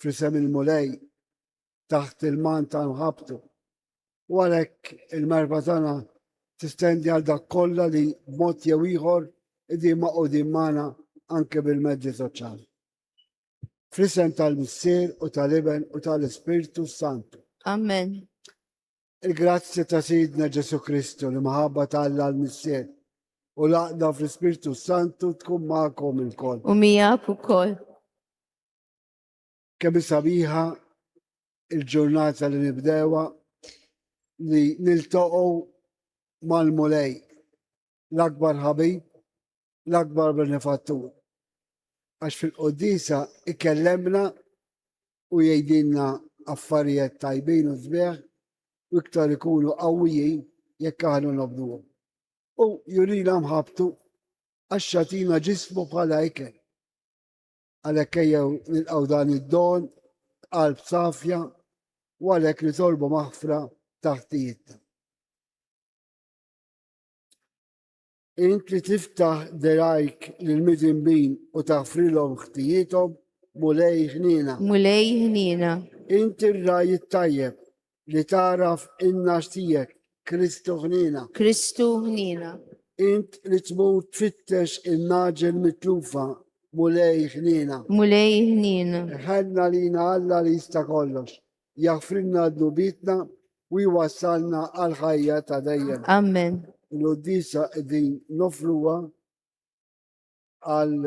f'isem il-Mulej taħt il-manta nħabtu. U għalhekk il-merba tagħna tistendi għal dak kollha li mod jew ieħor idin ma' qudin magħna anke bil-mezzi soċjali. Fl-isem tal-Missier u tal-Iben u tal-Ispirtu Santu. Amen. Il-grazzja ta' Sidna Ġesu Kristu li maħabba tal-Alla l-Missier u laqda fl-Ispirtu Santu tkun magħkom il-koll. U miegħek ukoll. Kemm sabiħa il-ġurnata li nibdewa li niltaqgħu mal-Mulej, l-akbar ħabib, l-akbar benefattur. Għax fil-qoddisa ikellemna u jgħidilna affarijiet tajbin u sbieħ u iktar ikunu qawwijin jekk aħna nobduhom. U jurina mħabtu għax xatina ġismu bħala ikel. Għalhekk ejjew nilqgħu dan id-don b'qalb safja u għalhekk nitolbu maħfra taħtijitna. Int li tiftaħ derajk lil midinbin u taħfrilhom ħtijithom, Mulej ħniena. Mulej ħniena. Int ir-ragħaj it-tajjeb Li tagħraf in-nax tiegħek, Kristu ħniena. Kristu ħniena. Int li tmur tfittex in-naġel mitlufa, Mulej ħniena. Mulej ħniena. Ħanna lina Alla li jista' kollox. Jaħfrinna dnubitna u jwassalna għal ħajja ta' dejjem. Amen. L-uddisa din nofruha għal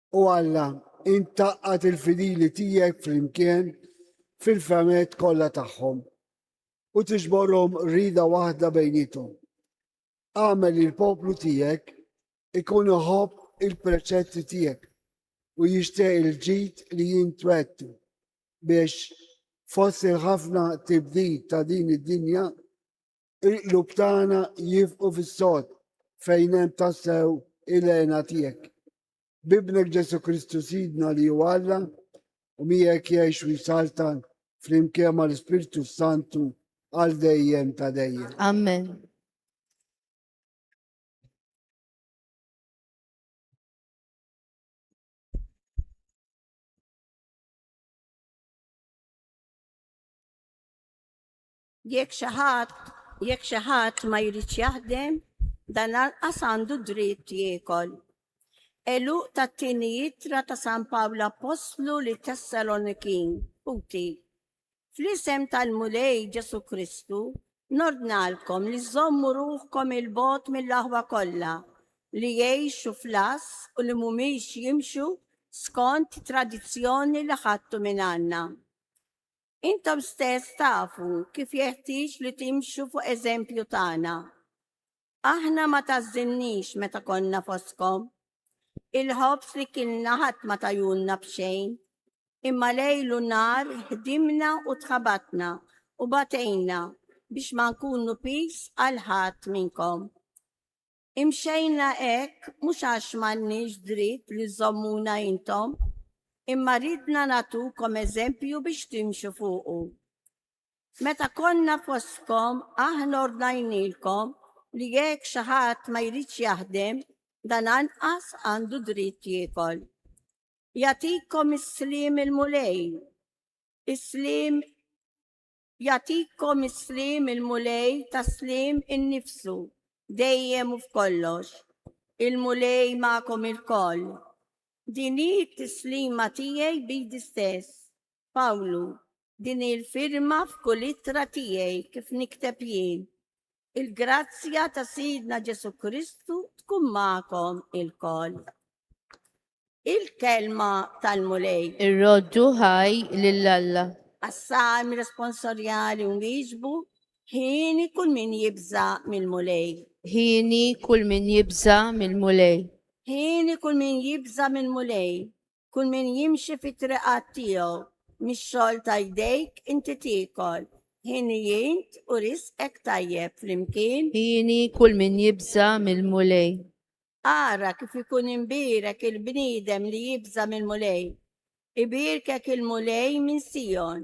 O Alla, int tgħaqqad il-fidili tiegħek flimkien fil-fehmiet kollha tagħhom u tiġborhom rida waħda bejniethom. Agħmel li l-poplu tiegħek ikun iħobb il-preċetti tiegħek u jixtieq il-ġid li jintwettu biex fost il-ħafna tibdil ta' din id-dinja Il-qlub tagħna jifqu fis-sod fejn hemm tassew il-għena tiegħek. Bibnek Ġesu Kristu Sidna li huwa Alla u miegħek jgħix u jsaltan flimkien mal-Ispirtu Santu għal dejjem ta' dejjem. Amen. Jekk xi ħadd, jekk xi ħadd ma jridx jaħdem, dan lanqas għandu d-dritt jiekol. Għeluq tat-tieni ittra ta' San Pawl l-Appostlu lit-Tessalonikin, UT. Fl-isem tal-Mulej Ġesù Kristu, nordnalkom li żżommu ruħkom 'il bogħod mill-aħwa kollha, li jgħixu fl-għażż u li mhumiex jimxu skont tradizzjoni li ħadtu mingħandna. Intom stess tafu kif jeħtieġ li timxu fuq eżempju tagħna. Aħna ma tgħażżilniex meta konna fostkom. Il-ħobż li kilna ħadd ma tajulna b'xejn, imma lejl u nhar ħdimna u tħabatna u batejna biex ma nkunu piż għal ħadd minnkom. Imxejna hekk mhux għax m'għandniex dritt li żżommuna intom, imma ridna nagħtukom eżempju biex timxu fuqu. Meta konna fostkom aħna ordnajnielkom li jekk xi ħadd ma jridx jaħdem, dan anqas għandu dritt jiekol. Jagħtikom is-sliem il-Mulej, is-sliem Jagħtikom is-sliem il-Mulej tas-sliem innifsu, dejjem u f'kollox. Il-Mulej magħkom ilkoll. Din hi t-tislima tiegħi b'idi stess. Pawlu, Din hi l-firma f'kull ittra tiegħi kif nikteb jien. Il-grazzja ta' Sidna Ġesu Kristu tkun magħkom ilkoll. Il-kelma tal-Mulej. Irroddu ħaj lil Alla. Għas-salm responsorjali u miġbu, ħini kull min jibża mill-Mulej. Ħini kull min jibża mill-Mulej. Ħini kull min jibża mill-Mulej. Kull min jimxi fit-triqat tiegħu, mix-xogħol ta' jdejk inti tiekol, ħin ijint u risqek tajjeb flimkien. Hieni kull min jibża' mill-Mulej. Ara kif ikun imbierek il-bniedem li jibża' mill-Mulej. Ibierkek il-Mulej minn Sijon,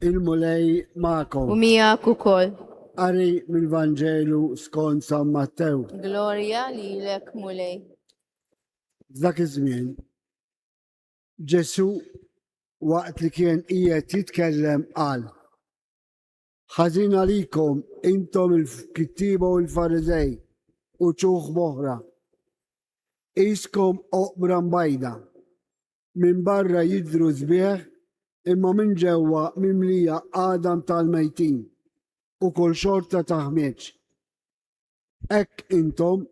Il-Mulej ma'kom. U miegħek ukoll. Qari mill-Vanġelu skont San Mattew. Glorja lilek Mulej. Dak iż-żmien Ġesu waqt li kien qiegħed jitkellem qal Ħażin għalikom, intom il-kittieba u l-Fariżej, uċuħ moħra! Qiskom oqbra mbajda. Minn barra jidhru sbieħ, imma minn ġewwa mimlija għadam tal-mejtin u kull xorta ta' ħmieġ. Hekk intom,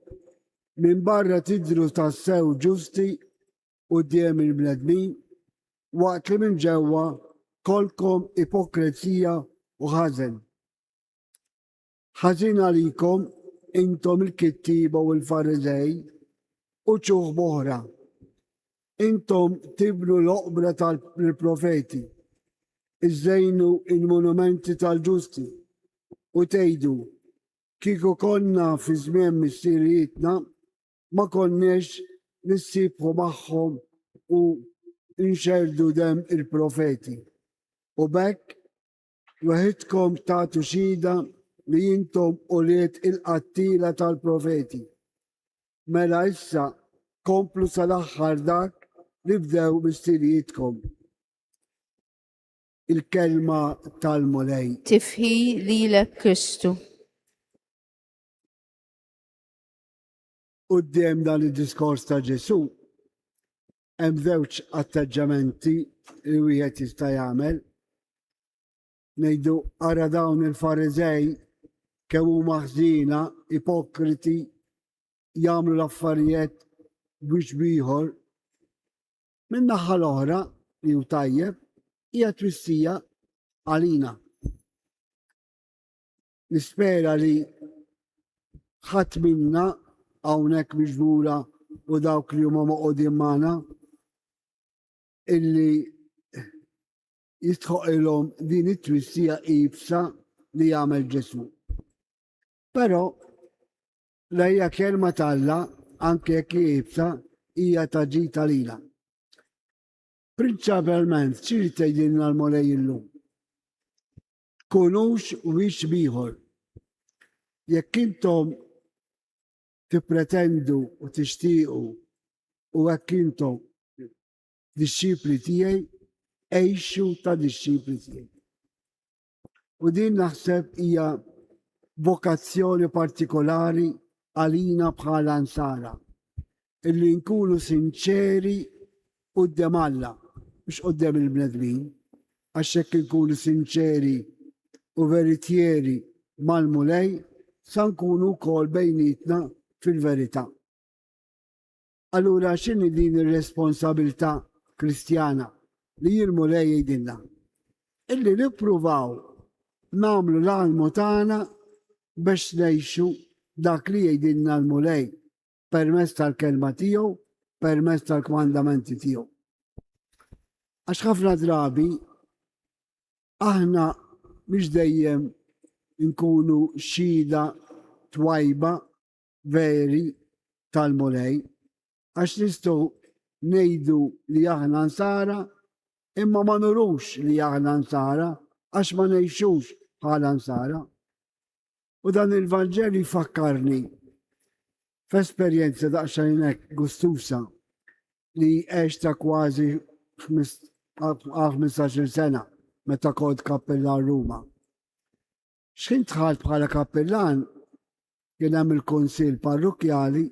minn barra tidhru tassew ġusti, quddiem il-bnedmin, waqt li minn ġewwa kollkom ipokrezija u ħażen. Ħażin għalikom intom il-kittieba u l-Fariżej u ċuħ boħra. Intom tibnu l-oqbra tal-profeti, iżżejnu il-monumenti tal-ġusti u tgħidu kieku konna fi żmien missirijietna ma konniex nissiequ magħhom u nxerrdu demm il-profeti. U b'hekk weħidkom tagħtu xhieda li intom ulied il-qattiela tal-profeti. Mela issa komplu sal-aħħar dak li bdew missirijietkom. Il-kelma tal-Mulej. Tifħi lilek Kristu. Quddiem dan id-diskors ta' Ġesù, hemm żewġ atteġġamenti li wieħed jista' jagħmel. Ngħidu ara dawn il-Fariżej kemm huma ħżiena, ipokriti, jagħmlu l-affarijiet biex bieħor. Min-naħa l-oħra li hu tajjeb hija twissija għalina. Nispera li ħadd minna hawnhekk miġbura u dawk li huma moqogħdin magħna illi jistħoqilhom din it-twissija ibsa li jagħmel Ġesu. Però lejja kelma talla anke jekk ibsa hija ta' ġita lila. Prinċipalment ċiri tgħidilna l-Molej illum. tkunux wiċċ b'ieħor. Jekk intom tippretendu u tixtiequ u hekk intom dixxipli tiegħi, għejxu ta' dixxipli tiegħi. U din naħseb hija vokazzjoni partikolari għalina bħala nsara. Illi nkunu sinċeri quddem Alla, mhux quddem il-bnedmin, għax jekk inkunu sinċeri u veritjeri mal-Mulej, sa nkunu wkoll bejnietna fil-verità. Allura x'inhi din ir-responsabilità Kristjana li l-Mulej jgħidilna? Illi nippruvaw nagħmlu l-almu tagħna biex ngħixu dak li jgħidilna l-Mulej permezz tal-kelma tiegħu, permezz tal-kmandamenti tiegħu. Għax ħafna drabi aħna mhux dejjem nkunu xhieda twajba veri tal-mulej, għax nistgħu ngħidu li aħna nsara imma ma nurux li aħna nsara għax ma ngħixux bħala nsara. U dan il-Vanġelu jfakkarni f'esperjenza daqsxejn hekk gustusa li għexta kważi 15-il sena meta kont kappillan Ruma. X'ħin dħalt bħala kappillan kien hemm il-kunsill parrukjali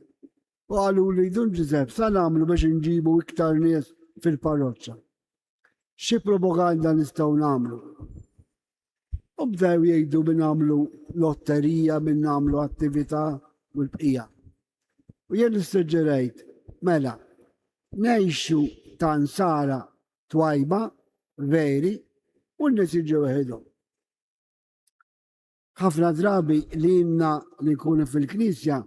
u qalu li Dun Ġużepp sa nagħmlu biex inġibu iktar nies fil-parroċċa. xi propaganda nistgħu nagħmlu? U bdew jgħidu min nagħmlu lotterija, min nagħmlu attività u l-bqija. U jien nissuġġerejt, mela, nejxu ta' nsara twajba, veri, u n-nisiġu weħidhom. ħafna drabi li jimna li nkunu fil-knisja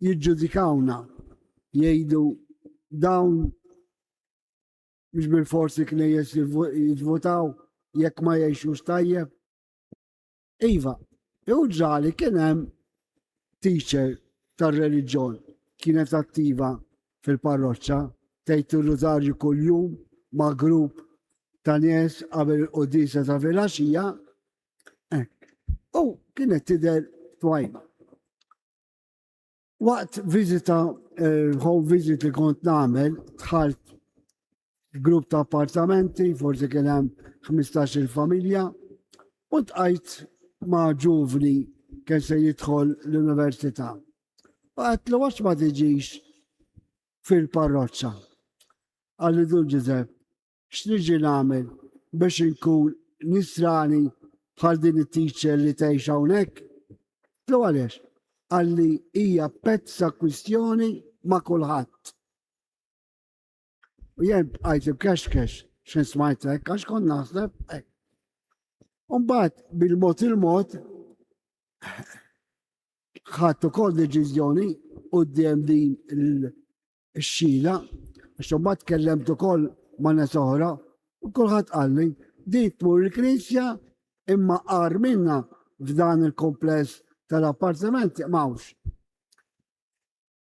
jiġġudikawna jgħidu dawn Mhux bil-fors il-knejjes jivvotaw jekk ma jgħixux tajjeb. Iva, jew ġali kien hemm teacher tar-reliġjon kienet attiva fil-parroċċa tgħid ir-rużarju kuljum ma' grupp ta' nies qabel il-qudisa ta' filgħaxija. U kienet tidher twajba. Waqt viżita home visit li kont nagħmel, dħalt grupp ta' appartamenti, forsi kien hemm 15-il familja, u tqajt ma' ġuvni kien se jidħol l-università. U għatlu għax ma tiġix fil-parroċċa. Għalli Dun Ġużepp, X'niġi nagħmel biex inkun Nisrani bħal din it-teacher li tgħix hawnhekk? Tlu għaliex? Għalli hija pezza kwistjoni ma' kulħadd. U jien bqajt ibkexkex xejn smajt hekk għax kont naħseb hekk. Umbagħad bil-mod il-mod ħadd ukoll deċiżjoni quddiem din ix-xhieda, għax imbagħad tkellemt ukoll ma' nies oħra u kulħadd qalli din tmur il-knisja imma qar minna f'dan il-kumpless tal-appartamenti m'hawnx.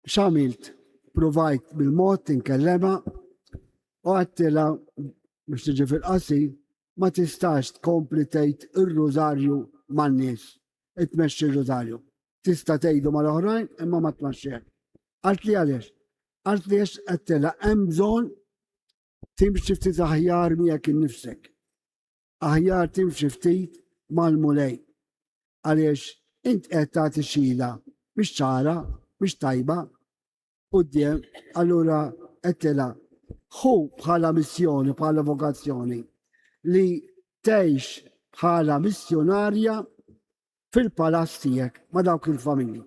X'għamilt? Provajt bil-mod tinkellema u għattila biex tiġi fil-qasi ma tistax tkompli tgħid ir-rużarju man-nies, itmexxi r-rużarju. Tista' tgħidu mal-oħrajn imma ma tmexxihekx. Qaltli għaliex? Qaltli għax għedtilha hemm bżonn timxi ftit aħjar miegħek innifsek. Aħjar timxi ftit mal-mulej. Għaliex int qed tagħti xila mhix ċara, mhix tajba. quddiem, allura għedtilha, Ħu bħala missjoni, bħala vokazzjoni, li tgħix bħala missjonarja fil-palazz tiegħek ma' dawk il-familji.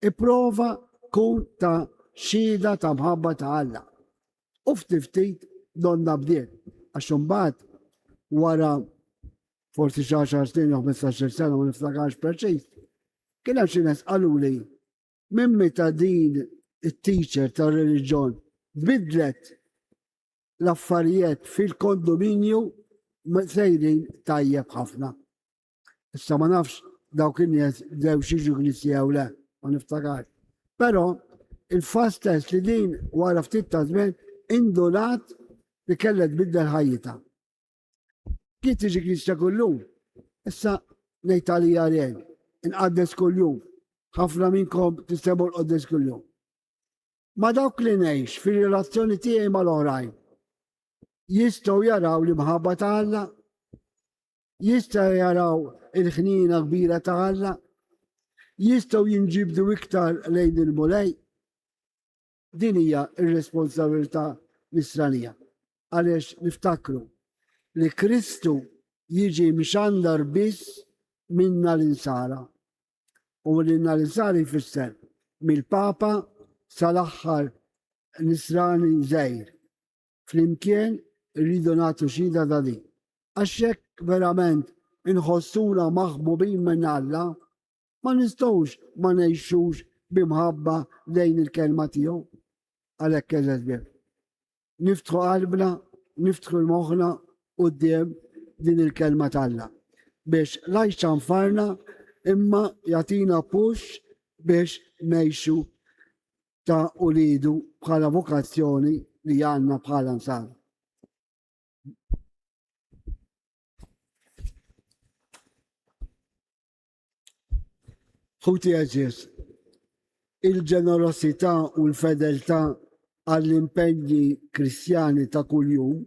Ipprova kun ta' xhieda ta' mħabba ta' Alla. U ftit donna bdiet, għax imbagħad wara forsi xi 10 snin jew 15 sena ma niftakarx preċiż, kien hemm xi nies qaluli Minn meta din it-teacher tar-reliġjon bidlet l-affarijiet fil-kondominju sejrin tajjeb ħafna. Issa ma nafx dawk in-nies bdew xiġu knisja jew le, ma niftakar. Però il-fast test li din wara ftit ta' żmien indunat li kellha tbiddel ħajjita. Kien tiġi knisja kullum, issa ngħid għalija rejn, inqaddes kuljum, ħafna minnkom tistgħu l-qoddes kuljum. Ma dawk li ngħix fir-relazzjoni tiegħi mal-oħrajn jistgħu jaraw l-imħabba ta' Alla, jistgħu jaraw il-ħnina kbira ta' Alla, jistgħu jinġibdu iktar lejn il-mulej. Din hija r-responsabilità Nisranija għaliex niftakru li Kristu jiġi mxandar biss minn nhar Insara u li nhar Insara jfisser mill-Papa sal-aħħar Nisrani żgħir. Flimkien irridu nagħtu xhieda ta' din. Għax hekk verament inħossuna maħbubin minn Alla Ma nistgħux ma ngħixux bi mħabba lejn il-Kelma tiegħu. Għalhekk l-esbeb. Niftħu qalbna, niftħu moħħna quddiem din il-Kelma t'Alla biex lajxa nfarna imma jagħtina pux biex ngħixu ta' ulidu bħala vokazzjoni li għandna bħala nsar. Ħuti għażiż, il-ġenerosità u l-fedeltà għall-impenji Kristjani ta' kuljum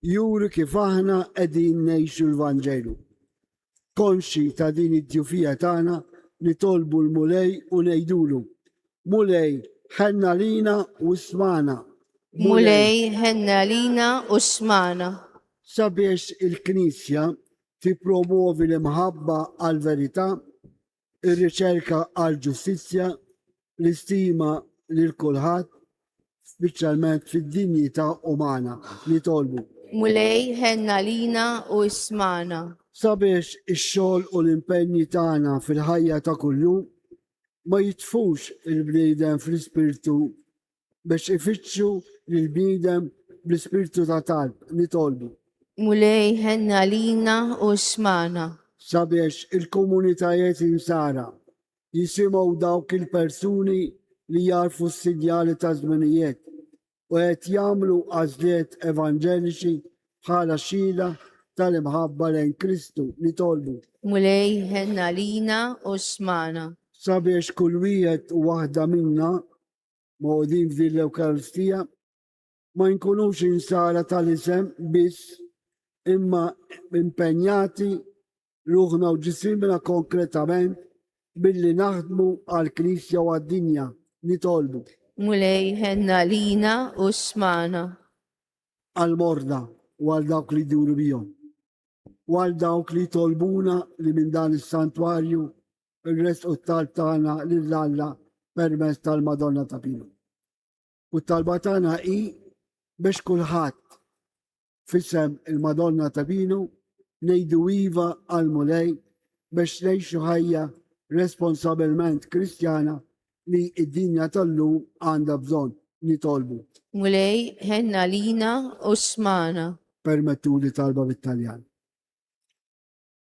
juri kif aħna qegħdin ngħixu l-Vanġelu. Konxi ta' din id-djufija tagħna nitolbu l-Mulej u ngħidulu, Mulej, ħenna lina u smana. Mulej, ħenna lina u smana. Sabiex il-Knisja tippromwovi l-imħabba għall-verità, ir-riċerka għall-ġustizzja, l-istima lil kulħadd, speċjalment fid-dinjità umana. Nitolbu. Mulej, ħenn għalina u ismagħna. Sabiex ix-xogħol u l-impenji tagħna fil-ħajja ta' kuljum ma jitfux il-bniedem fl-ispirtu biex ifittxu lill-bniedem bl-ispirtu ta' talb, nitolbu. Mulej ħenna lina u smana. Sabiex il-komunitajiet insara jisimgħu dawk il-persuni li jarfu s-sinjali ta' żminijiet u qed jagħmlu għażliet evanġeliċi bħala xhieda tal-imħabba lejn Kristu, nitolbu. Mulej ħenna lina u smana. Sabiex kull wieħed u waħda minna mogħdin f'din l-Ewkaristija ma nkunux insara tal-isem biss imma impenjati ruħna u ġisimna konkretament billi naħdmu għal-Knisja u għad-dinja nitolbu. Mulej ħenna lina u smana. Għal-morda u għal dawk li duru bijom. U għal dawk li tolbuna li minn dan is-santwarju irresqu t-talb tagħna lil Alla permezz tal-Madonna ta' Pino. U t-talba tagħna hi biex kulħadd fissem il-Madonna ta' Pino ngħidu iva għal mulej biex ngħixu ħajja responsabilment kristjana li id-dinja tal-lum għandha bżonn nitolbu. Mulej, ħenna lina u smana. Permettu li talba bit-Taljan.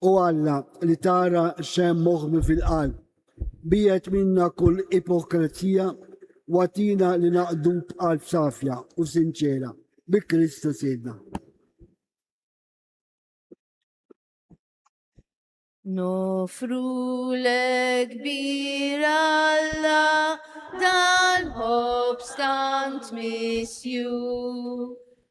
O Alla, li tara x'hemm moħbi fil-qalb, biegħed minna kull ipokrezija u agħtina li naqdu b'qalb safja u sinċiera, bi Kristu Sidna. Nofru lek bir Alla dal-ħob stant misju,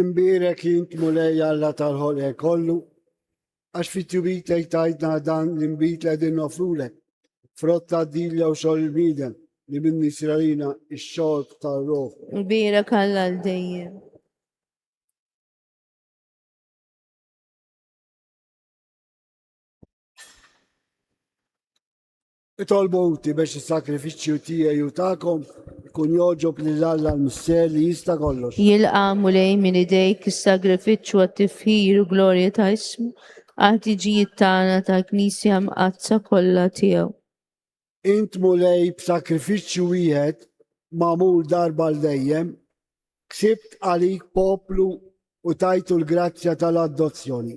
Imbierek int Mulej Alla tal-ħolqek kollu, għax fit-tjubit lej tajtna dan l-inbid li qegħdin nofrulek, frott ta' din jew xogħol il-bniedem li minn nisralina x-xogħol tar-ruħ. Imbierek Alla l dejjem. Itolbu inti biex is-sagrifiċċju tiegħi u tagħkom ikun jogħġob lil Alla l-Missier li jista' kollox. Jilqa', Mulej, minn idejk is-sagrifiċċju għat-tifħir u glorja ta' ismu, għall-ħtiġijiet tagħna tal-Knisja Mqaddsa kollha tiegħu. Int, Mulej, b'sagrifiċċju wieħed magħmul darba għal dejjem, ksibt għalik poplu u tajtu l-grazzja tal-adozzjoni.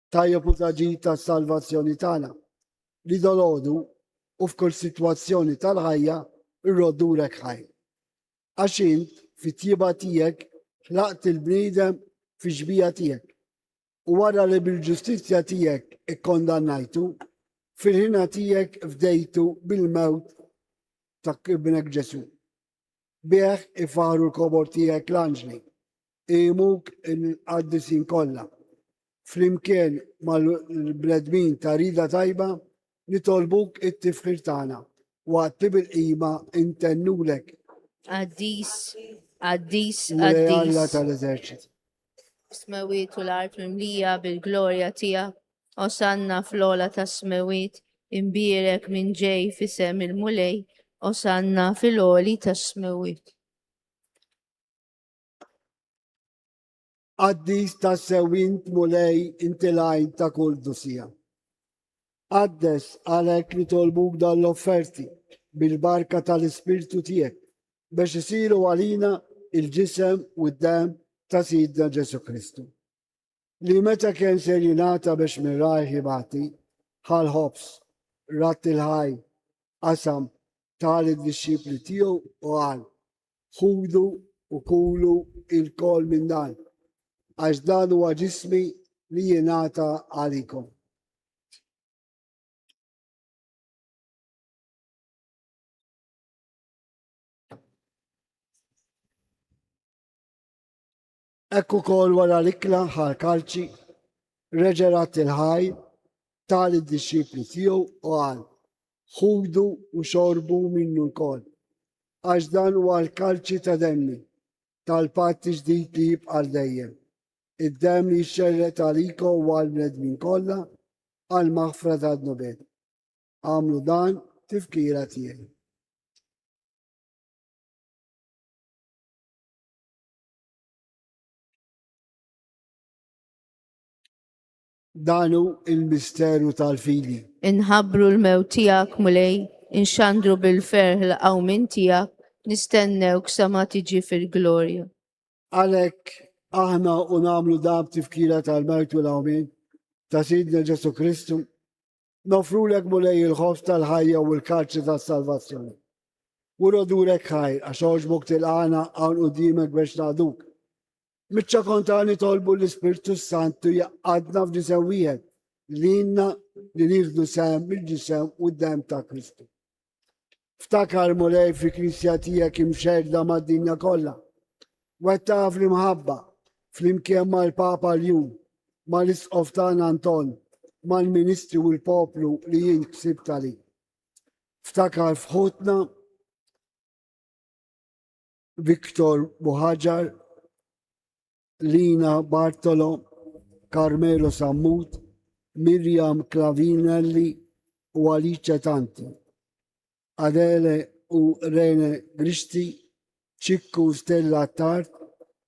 Tajjeb u l-ġid tas-salvazzjoni tagħna, li dalgħodu u f'kull sitwazzjoni tal-ħajja rrodd urek ħaj. Għax int fit-tjieba tiegħek ħlaqt il-bniedem fix-xbieha tiegħek. U wara li bil-ġustizzja tiegħek ikkondannajtu, fil-ħina tiegħek fdejtu bil-mewt ta' Ibnek Ġesù. Bih ifaħħru l-kobor tiegħek l-anġli, iqimuk il-qaddisin kollha. Flimkien mal-bnedmin ta' rida tajba nitolbuk it-tifħir tagħna waqt li bil-qima intennulek. Qaddis, qaddis, qaddis. Alla tal-eżerċit. Smewit u l-art mimlija bil-glorja tiegħek. Osanna fl-ola tas-smewit, imbierek minn ġej fisem il-Mulej. Osanna fil-oli tas-smewit. Qaddis ta' sewint mulej inti lajn ta' kull dusija. Qaddes għalek li tolbuk dan l-offerti bil-barka tal-ispirtu tiegħek biex isiru għalina il-ġisem u d-dem ta' Sidna Ġesu Kristu. Li meta kien ser jingħata biex mirrajh jibati, ħal ħobs, rat il-ħaj, qasam tal id-dixxipli tiegħu u għal ħudu u kulu il-kol minn dan, għax dan huwa ġismi li jenata għalikom. Ekk ukoll wara l-ikla ħar kalċi, reġerat il-ħaj, tal id-dixxipli tiegħu u għal, ħudu u xorbu minnu wkoll, għax dan huwa l-kalċi ta' demmi, tal-patt ġdid li jibqa' dejjem. Id-demm jixxerret għalikom u għal bnedmin kollha għal maħfra tad-nubed. Agħmlu dan tifkira tiegħi. Danu il-misteru tal-fidi. Inħabru l-mew tijak mulej, inxandru bil-ferħ l-qawmin tijak, nistennew ksama tiġi fil-glorja. Għalek, aħna u namlu dab tifkira tal-mertu l-qawmin ta' Sidna Ġesu Kristu, Nofrulek Mulej il-ħoss tal-ħajja u l-karċi tas-salvazzjoni. U rodurek ħajr għax għoġbok tilqana hawn qudiemek biex naqduk. Miċċa konta nitolbu l-Ispirtu Santu jaqqadna f'ġisem wieħed li jinna li nieħdu sem mill-ġisem u d-dem ta' Kristu. Ftakar Mulej fi Kristja tiegħek imxerda mad-dinja kollha. Wettaha fl-imħabba, flimkien mal-Papa l-jum, mal-Isqof tagħna Anton, mal-Ministri u l-poplu li jien ksib tali. Ftakar fħutna Victor Buħaġar, Lina Bartolo, Carmelo Sammut, Miriam Clavinelli u Alice Tanti. Adele u Rene Gristi, Ċikku Stella Tart,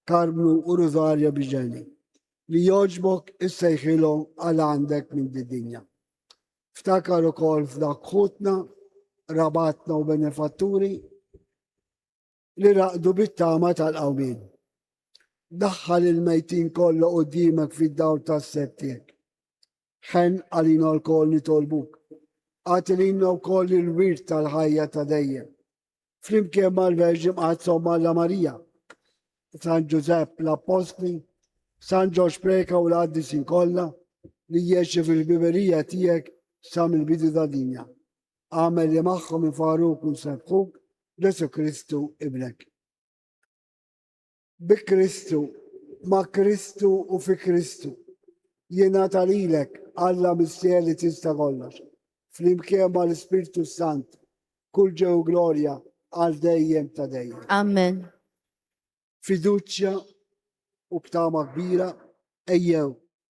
Karmnu u Rosaria Biġeni. Li joġbok issejħilhom għal għandek minn dinja. Ftakar ukoll f'dak ħutna, rabatna u benefatturi li raqdu bit-tama tal-qawmien. Daħħal il-mejtin kollha qudiemek fid-dawl tas-sett tiegħek. Ħen għalina lkoll nitolbuk. Għati lilna wkoll il-wirt tal-ħajja ta' dejjem. Flimkien mal-Verġi Mqaddsa Malla Marija, San Ġużepp l-Appostli, San Ġorġ Preka u l-Qaddisin kollha li jieċi fil-biberija tiegħek sa mill-bidu ta' dinja. Agħmel li magħhom ifarruk u jsebħuk b'Ġesù Kristu Ibnek. Bi Kristu, ma' Kristu u fi Kristu, jingħata lilek Alla Missier li tista' kollox, flimkien ma' l-Ispirtu Sant, kull ġew glorja għal dejjem ta' dejjem. Amen. Fiduċja u btama kbira ejjew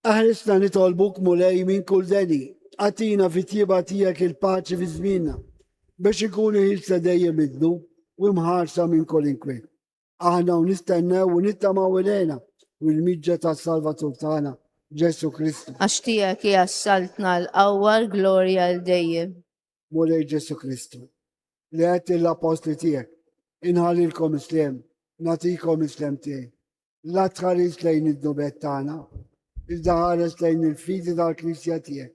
Eħrisna nitolbuk, Mulej, minn kull deni. Agħtina fit-tjieba tiegħek il-paċi fi żmienna, biex inkunu ħielsa dejjem id-dnu u mħarsa minn kull inkwiet. Aħna hawn nistennew u nittamaw il-għena u l-miġja tas-Salvatur tagħna, Ġesù Kristu. Għax tiegħek hija s-saltna, l-qawwa, l-glorja għal dejjem. Mulej Ġesù Kristu, li għedt lill-appostli tiegħek, inħallilkom isliem, nagħtikom isliem tiegħi. La tħares lejn id-nubet tagħna, iżda ħares lejn il-fidi tal-Knisja tiegħek.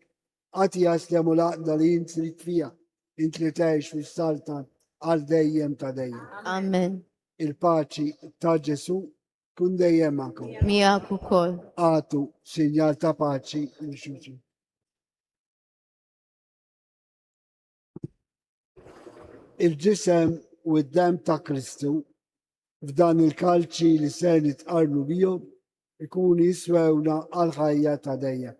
Għati jaslem u laqda li jint trid fija, int li tgħix fis-saltan għal dejjem ta' dejjem. Amen. Il-paċi ta' Ġesu kun dejjem magħkom. Miegħek ukoll. Għatu sinjal ta' paċi l xuċi. Il-ġisem u d-dem ta' Kristu f'dan il-kalċi li ser nitqarnu bihom ikun jiswewna għal-ħajja ta' dejjem.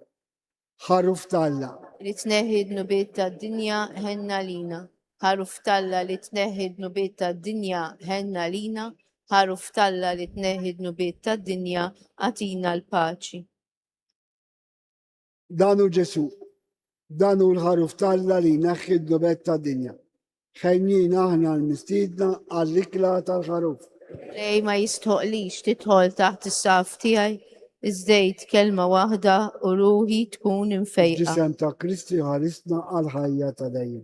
Ħaruf talla. Li tneħħi d-nubiet ta' dinja ħenna lina. Ħaruf talla li tneħħi d-nubiet ta' dinja ħenna lina. Ħaruf talla li tneħħi d-nubiet ta' dinja għatina l-paċi. Dan hu Ġesù. Dan hu l-Ħaruf t'Alla li jneħħi d-dnubet tad-dinja. Ħejjina aħna l-mistiedna għall-ikla tal-Ħaruf. Lej ma jistħoqlix tidħol taħt is-saf tiegħi, iżdejt kelma waħda u ruħi tkun infejqa. Ġisem ta' Kristi ħarisna għal ħajja ta' dejjem.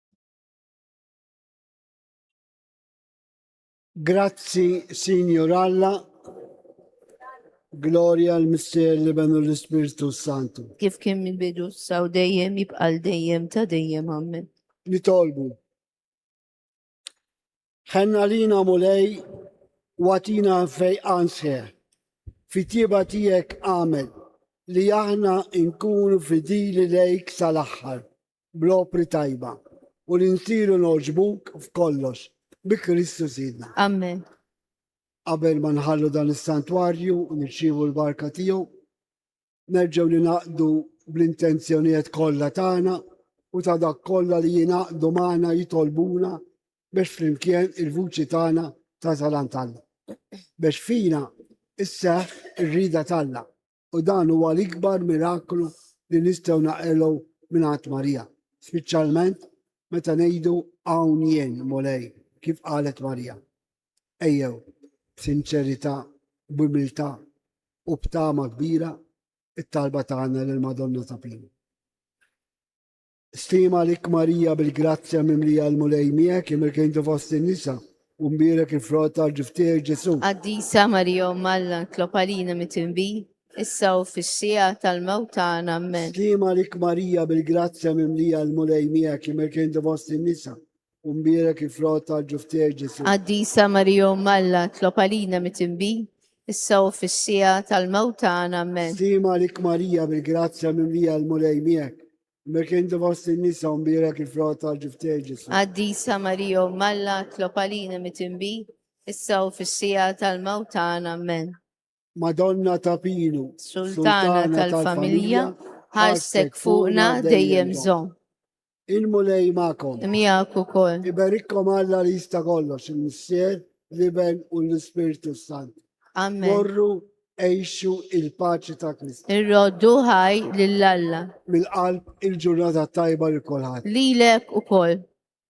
Grazzi, Signor Alla, Gloria al Mister li benu l-Ispirtu Santu. Kif kien minn bidu saw dejjem jibqal dejjem ta' dejjem għammen. Nitolbu. Ħenna lina Mulej u għatina fejqan sħiħ. Fit-tieba tiegħek għamel li aħna nkunu fidili lejk sal-aħħar bl-opri tajba u li nsiru noġbuk f'kollox bi Kristu Sidna. Amen. Qabel ma nħallu dan is-santwarju u nirċievu l-barka tiegħu, Nerġgħu ningħaqdu bl-intenzjonijet kollha tagħna u ta' dak kollha li jingħaqdu magħna jitolbuna biex flimkien il-vuċi tagħna tasal għand Alla. Biex fina isseħħ ir-rida t'Alla u dan huwa l-ikbar miraklu li nistgħu naqilgħu mingħand Marija, spiċċalment meta ngħidu hawn jien, Mulej, kif qalet Marija. Ejjew, b'sinċerità, b'umiltà u b'tama kbira, it-talba tagħna lill-Madonna ta' Pini. Stima lik Marija bil-grazzja mimlija l-Mulej miegħek, imilk inti fost in-nisa, u mbierek il-frott tal-ġib tiegħek Ġesù. Qaddisa Marija Omm Alla, tlob għalina mitinbi, issa u fis-siegħa tal-mewt tagħna. Ammen. Stima lik Marija bil-grazzja mimlija l-Mulej miegħek, imilk inti fost in-nisa, U mbierek il-frott tal-ġuftiegħek Ġesù. Qaddisa Marija Umm Alla, tlob għalina mitinbi, issa u fis-siegħa tal-mewt tagħna. Ammen. Stima għalik Marija, bil-grazzja mimlija l-Mulej miegħek. Imbierek inti fost in-nisa u mbierek il-frott tal-ġuftiegħek Ġesù. Qaddisa Marija Umm Alla, tlob għalina mitinbi, issa u fis-siegħa tal-mewt tagħna. Ammen. Madonna ta' Pinu, Sultana tal-Familja, ħarstek fuqna dejjem żomm. Il-Mulej magħkom. Miegħek ukoll. Iberikkom Alla li jista' kollox, il-Missier, l-Iben u l-Ispirtu Sant. Amen. Morru għejxu il-paċi ta' Kristu. Irroddu ħaj lill-Alla. Mill-qalb il-ġurnata tajba li kulħadd. Lilek ukoll.